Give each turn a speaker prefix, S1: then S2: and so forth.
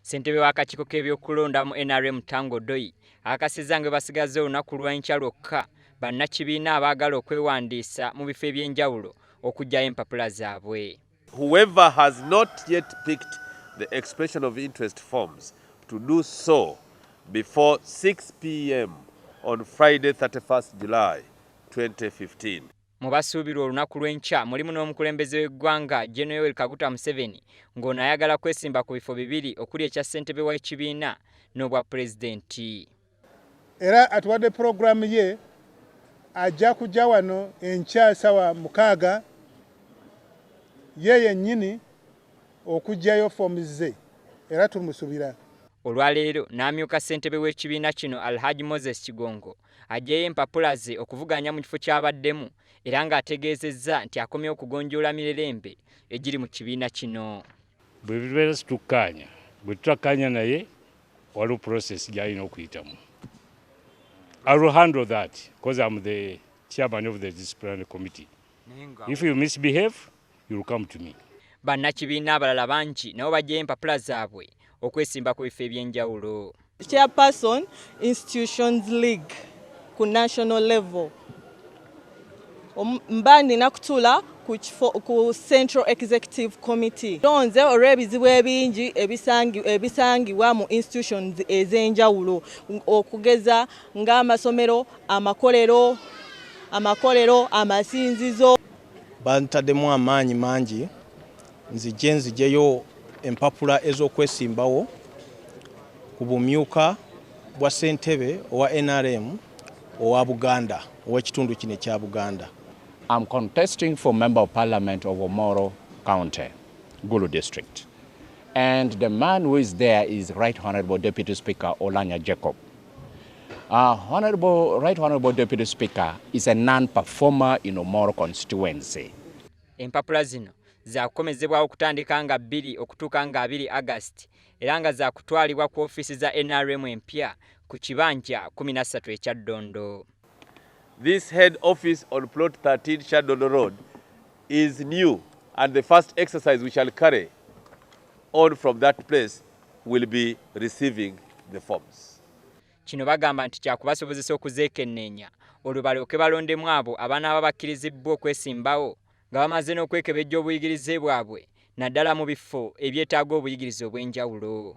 S1: ssentebe w'akakiiko k'ebyokulonda mu nrm tango doyi akakasizza nga basigaza olunaku lw'enkya lwokka bannakibiina abaagala okwewandiisa mu bifo eby'enjawulo okugyayo empapula zaabwe whoever has
S2: not yet picked the expression of interest forms to do so before 6 pm on friday 31 july 2015 Mu basuubirwa
S1: olunaku lw'enkya mulimu n'omukulembeze w'eggwanga Gen Yoweri Kaguta Museveni ng'ono ayagala kwesimba ku bifo bibiri okuli ekya ssentebe w'ekibiina n'obwa pulezidenti. Era
S3: atuwadde pulogulaamu ye ajja kujja wano enkya sawa mukaaga ye yennyini okujjayo foomu ze era tumusubira. Olwaleero
S1: n'amyuka ssentebe w'ekibiina kino Alhaj Moses Kigongo aggyeyo empapula ze okuvuganya mu kifo ky'abaddemu era ng'ategeezezza nti akomyewo okugonjoola mirerembe egiri mu kibiina kino. Bwe tubeera
S4: situkkaanya, bwe tutakkaanya naye waliwo process gy'alina okuyitamu. I will handle that because I'm the chairman of the disciplinary committee. If you misbehave, Bannakibiina
S1: abalala bangi nabo bajjayo empapula zaabwe okwesimba ku bifo eby'enjawulo. Chairperson
S5: Institutions League ku national level mba nina kutula ku Central Executive Committee lonze olw'ebizibu ebingi ebisangibwa mu institutions ez'enjawulo okugeza ng'amasomero amakolero amakolero amasinzizo Bantademu
S6: amaanyi mangi nzije nzijeyo empapula ez'okwesimbawo ku bumyuka bwa ssentebe owa NRM owa Buganda ow'ekitundu kino ekya Buganda. I'm
S7: contesting for member of parliament of Omoro County, Gulu district. And the man who is there is Right Honorable Deputy Speaker Olanya Jacob. Uh, honorable, right Honorable Deputy Speaker is a non-performer in Omoro constituency. Empapula
S1: zino zakukomezebwawo okutandika nga bbiri okutuuka nga abiri August era nga zakutwalibwa ku ofiisi za NRM empya ku kibanja 13 ekya Ddondo. This
S2: head office on plot 13 Shadono Road is new and the first exercise we shall carry on from that place will be receiving the forms. Kino bagamba
S1: nti kyakubasobozesa okuzeekenneenya olwo balyoke balondemu abo abanaaba bakkirizibbwa okwesimbawo nga bamaze n'okwekebejja obuyigirize bwabwe naddala mu bifo ebyetaaga obuyigirize obw'enjawulo.